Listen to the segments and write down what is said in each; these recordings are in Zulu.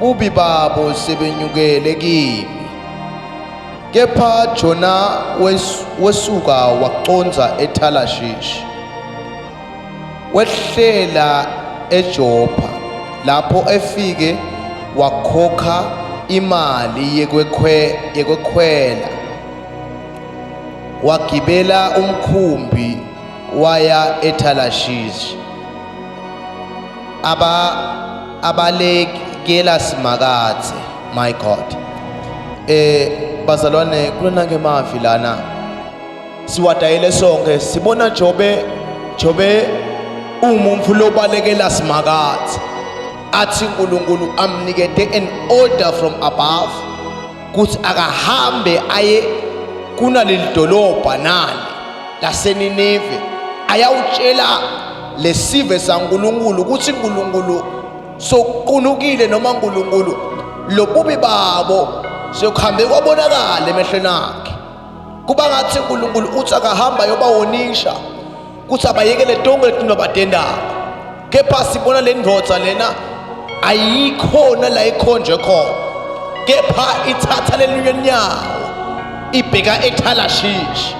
Bubi babo sebenyukele kimi. Kepha Jona wes, wesuka waconza eThalashishi. Wehlela eJopha lapho efike wakhokha imali yekwekhwe yekwekhwela wagibela umkhumbi waya ethalashishi aba abalekela simakathe my god eh bazalwane kulona ke mavi lana siwadayile sonke sibona jobe jobe umuntu lobalekela simakathe athi uNkulunkulu amnikete an order from above kuthi akahambe aye kunaleli dolobha nali laseNineve ayawutshela lesive saNkuluNkulu ukuthi uNkuluNkulu soqunukile noma uNkuluNkulu lobubi babo sokuhambe kwabonakala emehlweni akhe kuba ngathi unkulunkulu uthi akahamba yobawonisha kuthi abayekele tonke letinto abatendayo kepha sibona le ndvodza lena ayikhona la ikhonjwe khona kepha ithatha lelunye nyawo ibheka ethalashishi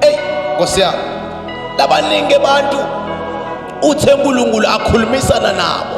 eyi nkosi yami labaningi abantu uthe unkulunkulu akhulumisana nabo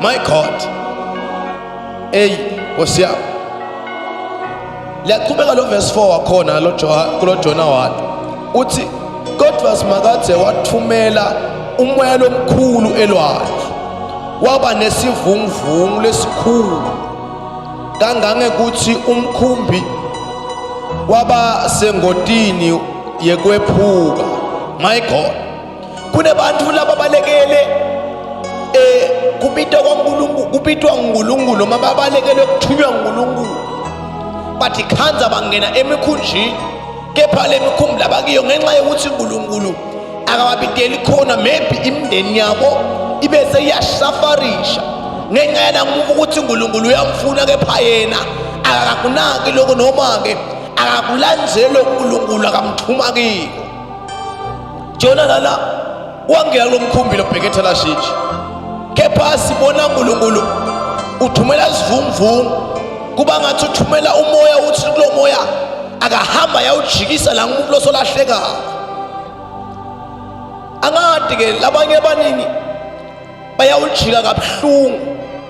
My God. Hey, Nkosi yami. Liyaqhubeka lo verse 4 wakhona lo kulo Jona wathi uthi kodwa simakathe wathumela umoya lomkhulu elwandle waba nesivunguvungu lesikhulu kangangekuthi umkhumbi waba sengotini yekwephuka my god kunebantu laba balekele eh kubitwa kwaNkulunkulu kubitwa uNkulunkulu noma babalekele ukuthunywa uNkulunkulu bathi khanza bangena emikhunjini kepha lemikhumbi labakiyo ngenxa yokuthi uNkulunkulu akababideli khona maybe imindeni yabo ibe seyashafarisha ngenxa yanamuva ukuthi uNkulunkulu uyamfuna kepha yena akakunaki lokho noma-ke akakulandzeli uNkulunkulu akamxhuma kiko jona lala wangena kulo mkhumbi lobheke ethalashitshi kepha sibona unkulunkulu uthumela isivunguvungu kuba ngathi uthumela umoya uthi kulo moya akahamba yawujikisa la umuntu losolahleka angadi ke labanye abaningi bayawujika kabuhlungu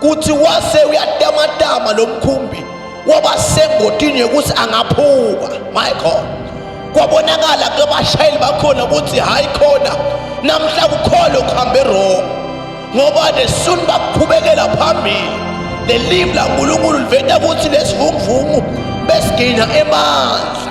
kuthi wase uyatamatama lo mkhumbi waba sengotini yokuthi angaphuka my god kwabonakala kubashayeli bakhona ukuthi hayi khona namhla kukhole ukuhamba erong ngoba nesuni bakuqhubekela phambili lelimu lankulunkulu liveta ukuthi lesivunguvungu besigina emandla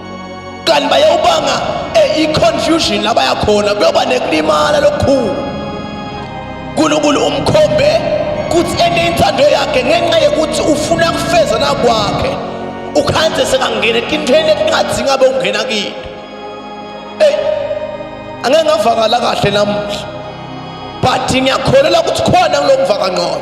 kanti bayawubanga eh, i-confusion la bayakhona kuyoba nekulimala lokukhulu unkulunkulu umkhombe kuthi ene intando yakhe ngenxa yokuthi ufuna kufeza nakwakhe ukhanze sekangena etintweni ekungathi ngabe ungena kini eyi angeke ngavakala kahle namuhla but ngiyakholelwa ukuthi khona kulo mvakangqono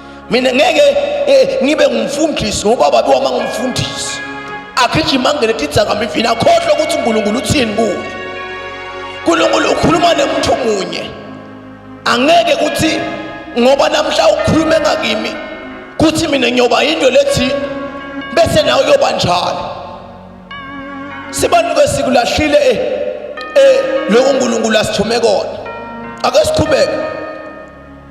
mina ngeke eh, ngibe ngumfundisi ngoba babe wama ngumfundisi agijima angene tidzakambivini akhohlwe ukuthi unkulunkulu uthini kuye unkulunkulu ukhuluma nemuntu munye angeke ukuthi ngoba namhla ukhulume ngakimi kuthi mina ngiyoba yinto lethi bese nawe uyoba njalo sibanuke sikulahlile eh, eh lokhu unkulunkulu asithume kona ake siqhubeke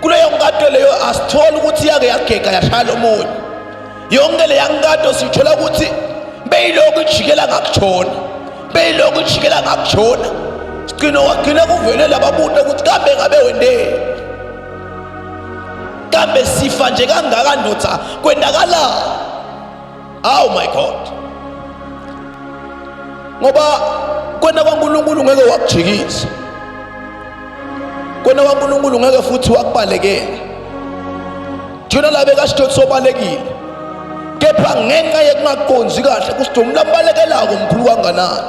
kuleyo nkatho leyo asitholi ukuthi yake yagega yashaya lo munye yonke leya nkatho sithola ukuthi beyilokhu ijikela ngakushona beyilokhu ijikela ngakushona sigcino wagcine kuvele lababuta ukuthi kambe ngabe wendeni kambe sifa nje kangaka ndoda kwendakalani Oh my God. Ngoba kwena kwaNkulunkulu ngeke wakujikisa. Kwena kwaNkulunkulu ngeke futhi wakubalekela. Jona la bekaSidoti sobalekile. Kepha ngenxa yekungaqondi kahle kuSidoti umlabalekela komkhulu kanganani.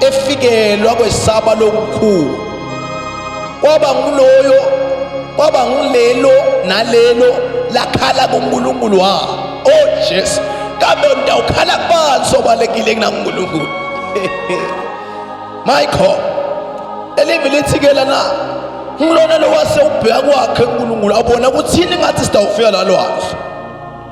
efikelwa kwesaba lokukhulu kwaba nguloyo kwaba ngulelo nalelo lakhala kuNkulunkulu wa oh Jesu kambe ngidawukhala kubani sobalekile kunaNkulunkulu my god elivi lithi ke lana ngilona lowase ubheka kwakhe uNkulunkulu abona ukuthi yini ngathi sidawufika lalwazi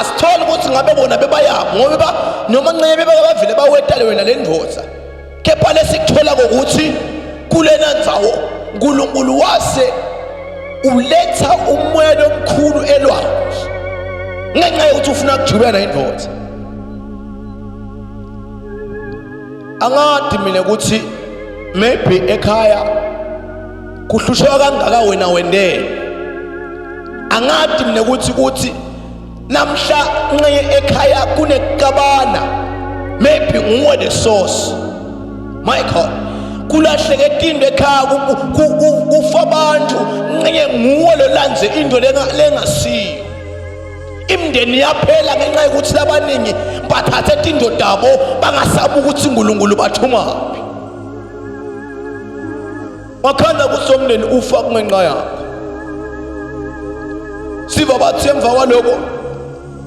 asithole ukuthi ngabe bona bebayabo ngoba noma ncebe bebavile bawetale wena le ndoda kepha lesikuthola kokuthi kulena ndzawo uNkulunkulu wase uletha umoya lomkhulu elwandle ngenxa yokuthi ufuna kujubela indoda angadi mina ukuthi maybe ekhaya kuhlusheka kangaka wena wendele angadi mina ukuthi kuthi namhla nxeye ekhaya kunekabana maybe nguwe the source my god kulahleke etindo ekhaya kufa abantu nxeye nguwe lolandze into lengasiyo imndeni yaphela ngenxa yokuthi labaningi bathathe tindodabo bangasabi ukuthi uNkulunkulu bathumaphi wakhanda kusomndeni ufa kungenxa yakho siva bathi emva kwaloko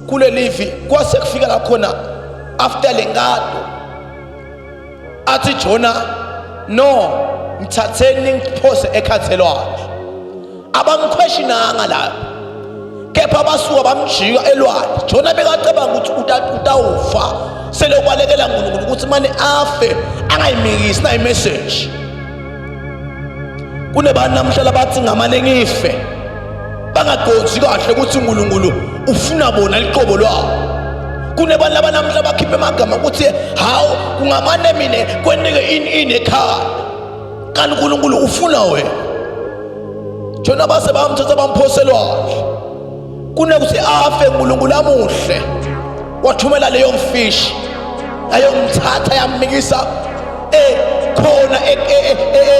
kulelivi kwase kufika la khona after le nkado athi jona no ngithatheni ngiphose ekhathelwayo abamkhweshinanga lapho kepha basuka bamjika elwandle jona bekacabanga ukuthi utawufa sele ubalekela nkulunkulu ukuthi mane afe angayimikisi nayimeseji kunebantu namhla labathi ngamane ngife bangaqondi kahle ukuthi unkulunkulu ufuna bona liqobo lwabo kunebantu labanamhla bakhiphe amagama ukuthi hawu kungamane mina kwenike ini ini ekhaya kanti uNkulunkulu ufuna wena jona base bamthatha bamphoselwandle kunekuthi afe uNkulunkulu amuhle wathumela leyo mfishi yayomthatha yamnikisa ekhona e, e, e,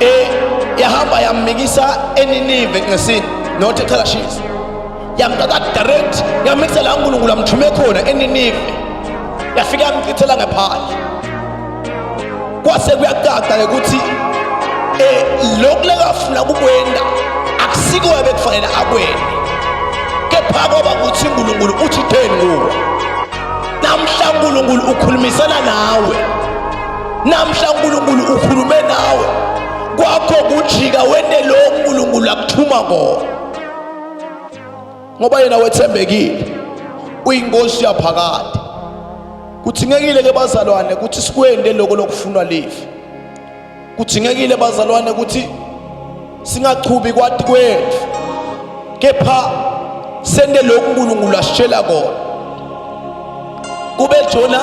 Eh yahamba yamikisa eninive ngesini nothi cha shisa. Yamthatha direct yamikisa la uNkulunkulu amthume khona eninive. Yafika yamchithela ngephandle. Kwase kuyacaca ukuthi eh lokhu lekafuna kukwenda akusiko ebekufanele akwende. Kepha kwaba ukuthi uNkulunkulu uthi theni kuwe. Namhla uNkulunkulu ukhulumisana nawe. Namhla uNkulunkulu ukhulume nawe. Kwakho kujika wende lo uNkulunkulu akuthuma kona. Ngoba yena wethembekile. Uyinkosi yaphakade. Kuthingekile ke bazalwane ukuthi sikwende lokho lokufunwa live. Kuthingekile bazalwane ukuthi singachubi kwati kwetfu kepha sente loku nkulunkulu asitshela kona kube jona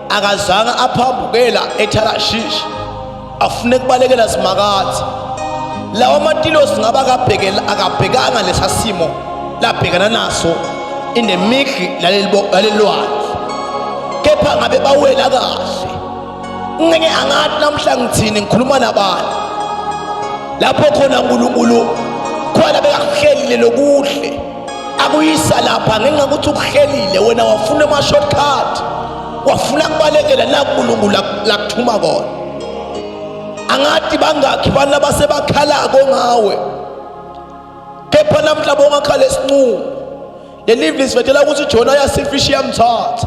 akazange aphambukela ethalashishi afune kubalekela simakadze lawa matilosi ngaba akabhekanga lesa simo labhekana naso in the middle lalelilwandle kepha ngabe bawela kahle ngeke angathi namhla ngithini ngikhuluma nabani lapho khona uNkulunkulu khona bekakuhlelile lokuhle akuyisa lapha ngenxa ukuthi ukuhlelile wena wafuna ama shortcut wafuna kubalekela la uNkulunkulu lakuthuma kona angathi bangakhi bana basebakhalako ngawe kepha namhla bongakhala esinqumo lelivi lisivethela ukuthi jona yasifisha iyamthatha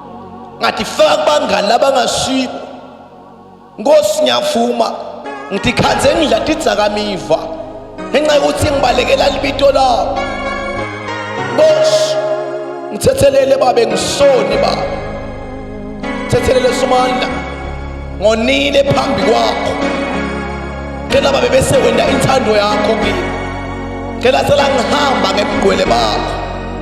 ngathi faka kubangani labangasiko nkosi ngiyavuma ngithi khanze ngidla tidzakamiva ngenxa yokuthi ngibalekela libito labo nkosi ngithethelele babe ngisoni baba ngithethelele somandla ngonile phambi kwakho ngicela babe bese wenda inthando yakho kimi ngicela sela ngihamba ngemgqwele bakho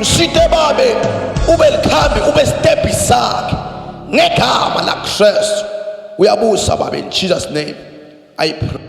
Mshite babe ube likhambi ube step sakhe ngegama la Christ uyabusa babe in Jesus name I pray